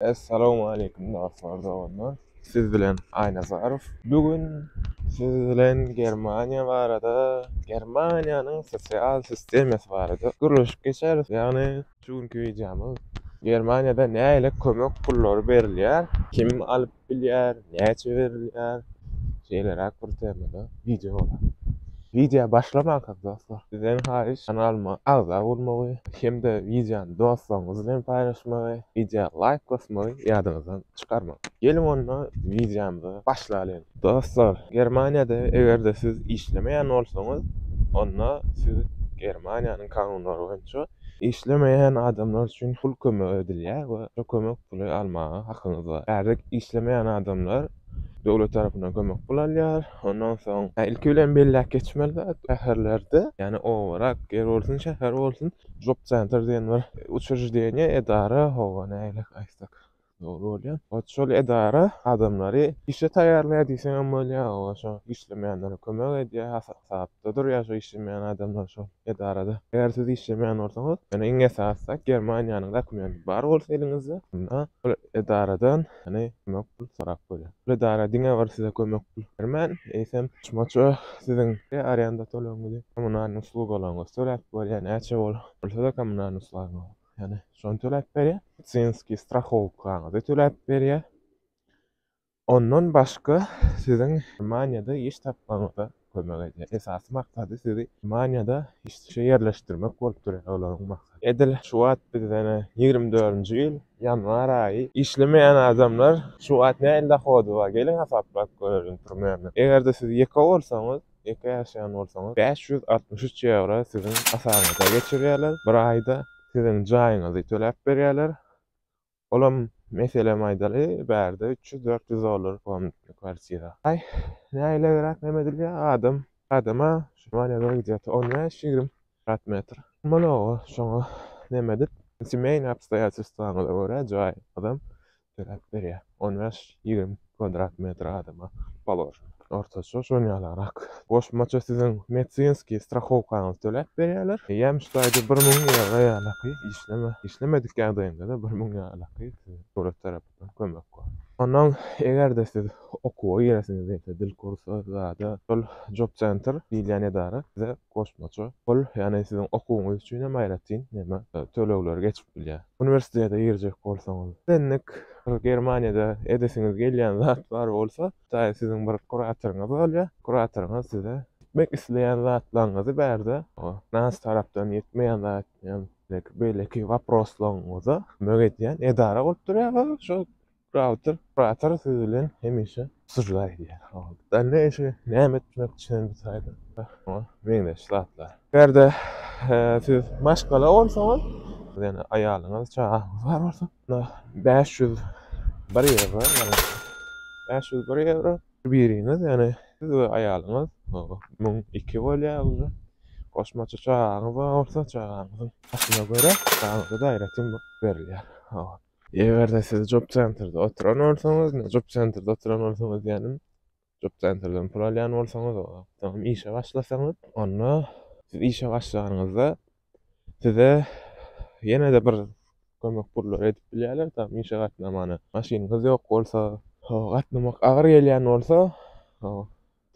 Essalamualeýkum dostlar doganlar siz bilen Aýnazarow bu gün siz bilen Germaniýa barada Germaniýanyň sosial sistemasy barada gürleşip geçeris ýagny şu günki wideomyz Germaniýada nähili kömek pullary berilýär kim alyp bilýär Näçe berilýär? Şeýleräk bir temada wideo bolar. Wideo başlamanka dostlar, sizden haýyş kanalyma agza bolmagy hem-de wideony dostlaryňyz bilen paýlaşmagy, wideo laýk basmagy ýadyňyzdan çykarmaň. Geliň onda wideomyzy başlalyň. Dostlar, Germaniýada eger-de siz işlemeýän bolsaňyz, onda siz Germaniýanyň kanunlary boýunça Işlemeýän adamlar üçin pul kömegi edilýär we şu kömek puly almaga hakyňyz bar. Häzir işlemeýän adamlar döwlet tarapyndan kömek pul alýar. Ondan soň, ilki bilen belläp geçmeli zat, şäherlerde, ýagny owarak, ýer bolsun, şäher bolsun, job-senter diýen bir uçrejdenýe, edara, hawa, nähili aýtsak, Dogry bolýar. Ot şol edara adamlary işe taýýarlaýar diýseňem bolýar, olar şo işlemeýänlere kömek edýär, hasapda durýar şo işlemeýän adamlar şol edarada. Eger siz işlemeýän bolsaňyz, ýöne iň esasda Germaniýanyň dokumenti bar bolsa eliňizde, onda ol edaradan ýöne kömek pul sorap bolýar. Ol edara diňe bir size kömek pul bermän, eýsem goşmaça siziň we arenda tölegiňizi, kommunalnyý uslugalaryňyzy töläp bolýar, näçe bolsa-da kommunalnyý usluglaryňyzy. Yani şony töläp berýär. Medsinski strahowkaňyzy töläp berýär. Ondan başga siziň Germaniýada iş tapmagyňyza kömek edýär. Esasy maksady sizi Germaniýada işe ýerleşdirmek bolup durýar olaryň maksady. Edil şu wagt bizden 24-nji ýyl ýanwar aýy işlemeýän adamlar şu wagt nähili dohody bar geliň hasaplap görelim primerne. Eger-de siz ýeke bolsaňyz Ýeke ýaşaýan bolsaňyz, bäş ýüz altmyş üç ýewro siziň hasabyňyza geçirýärler. Bir aýda siziň jaýyňyzy töläp berýärler. Olam, meselem aýdaly, bärde üç ýüz, dört ýüz dollar komnatly kwartira. Aý, nägilegräk näme edilýär, adam adama Şwaniýada gidýär, on bäş, ýigrimi kwdrat metr. Mologa şoňa neme edip, semýaýny obstoýatelstwaňyza görä jaýyňyzam töläp berýär. On bäş, ýigrimi kwadrat metr adama položen. Ortaça şon ýalarak. Goşmaça siziň medsinskiý strahowkaňyzy töläp berýärler. Ýemiş taýda bir müň ýewro ýalaky işleme, işlemedik ýagdaýyňda-da bir müň ýalaky size döwlet tarapyndan kömek bar. Onnoň eger-de siz okuwa giresiňiz diýse, dil kursy, zada, şol job center diýilýän edara size Goşmaça pul, ýagny siziň okuwyňyz üçin hem aýratyn näme, tölegler geçip bilýär. Uniwersitete girjek bolsaňyz, sendik bir Germaniýada edesiňiz gelýän zat bar bolsa, taýy siziň bir kuratoryňyz bolýar. Kuratoryňyz size etmek isleýän zatlaryňyzy bärde, nas tarapdan ýetmeýän zat etmeýän, beýleki waproslaryňyza kömek edýän edara bolup durýar we şo Router, Router siz bilen hemişe sujda edýär. Dally eşigi näme etmek üçin bu saýty? Oňa meňzeş zatlar. Eger-de siz maşgala bolsaňyz, ýagny aýalyňyz, çagaňyz bar bolsa, onda bäş ýüz bir ýewro, ýagny bäş ýüz bir ýewro biriňiz, ýagny siz we aýalyňyz müň iki bolýar uje. Goşmaça çagaňyz bar bolsa, çagaňyzyň ýaşyna görä, çagaňyza-da aýratyn berilýär. Eger-de siz job centerde oturan bolsaňyz, job centerde oturan bolsaňyz diýenim, job centerden pul alýan bolsaňyz, soňam işe başlasaňyz, onda siz işe başlanyňyzda size ýene-de bir kömek pullary edip bilýärler, tam işe gatnamana. Maşynyňyz ýok bolsa, gatnamak agyr gelýän bolsa,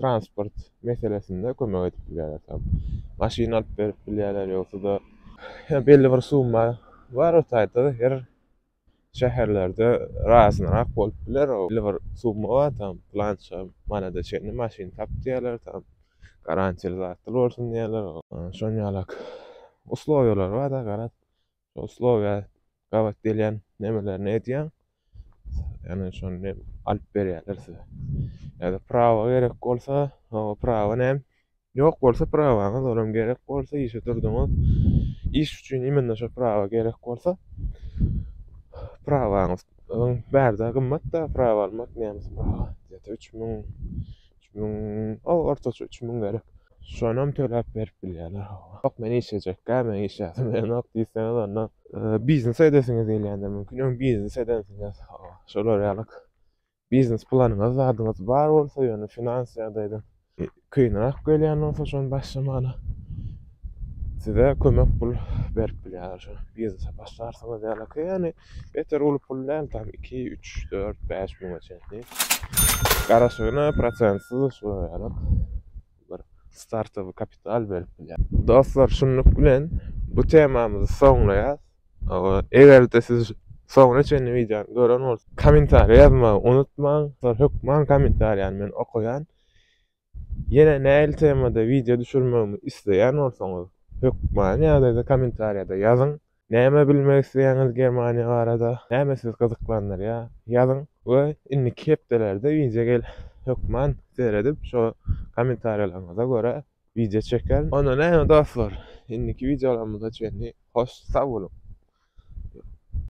transport meselesinde kömek edip bilýärler tam. Maşyn alyp berip bilýärler ýogsa-da belli bir summa bar o taýda her şäherlerde razynyrak bolup biler o belli bir summa bar tam plança manada çenli maşyn tap diýerler tam garantiýaly zatlar bolsun diýerler o şon ýalak uslowiýalar bar-da garaz Şol sloga gabat gelýän nemelerini edýäň. Ýani şony alyp berýärler size. Ýa-da prawa gerek bolsa, o prawa näm? Ýok bolsa prawaňyz, olam gerek bolsa işe durduňyz. Iş üçin imенно şo prawa gerek bolsa, prawaňyz bärde gymmat-da prawa almak, nemes prawa. Ýa-da üç müň, üç müň, o ortaça üç müň gerek. Şonam töläp berip bilýärler hawa. Ýok men işlejekkä meň iş ýasym gelenok diýseňiz onda biznes edesiňiz gelýändir mümkin öň biznes edensiňiz hawa şolar ýaly biznes planyňyz zadyňyz bar bolsa ýöne finans ýagdaýdan kynrak gelýän bolsa şony başlamaga size kömek pul berip bilýärler şo biznese başlarsyňyz ýalyky ýagny Beter uly pul däl tam iki, üç, dört, bäş müňe çenli. Garaşygyna prosentsiz uçraýaryn. Bir startowy kapital berip bilýär. Dostlar, şunluk bilen bu temamyzy soňlaýas. Eger-de siz soňuna çenli wideony gören bolsaňyz, kommentariýa ýazmagy unutmaň. Hökman kommentariýany men okaýan. Ýene nähili temada wideo düşürmegimi isleýän bolsaňyz, hökmany ýagdaýda kommentariýada ýazyň. Näme bilmek isleýäňiz Germaniýa barada, näme sizi gyzyklandyrýar, ýazyň we indiki hepdelerde wideo gel hökman seredip şo kommentariýalaryňyza görä wideo çekerin. Onda näme dostlar, indiki wideolarymyza çenli hoş sag boluň.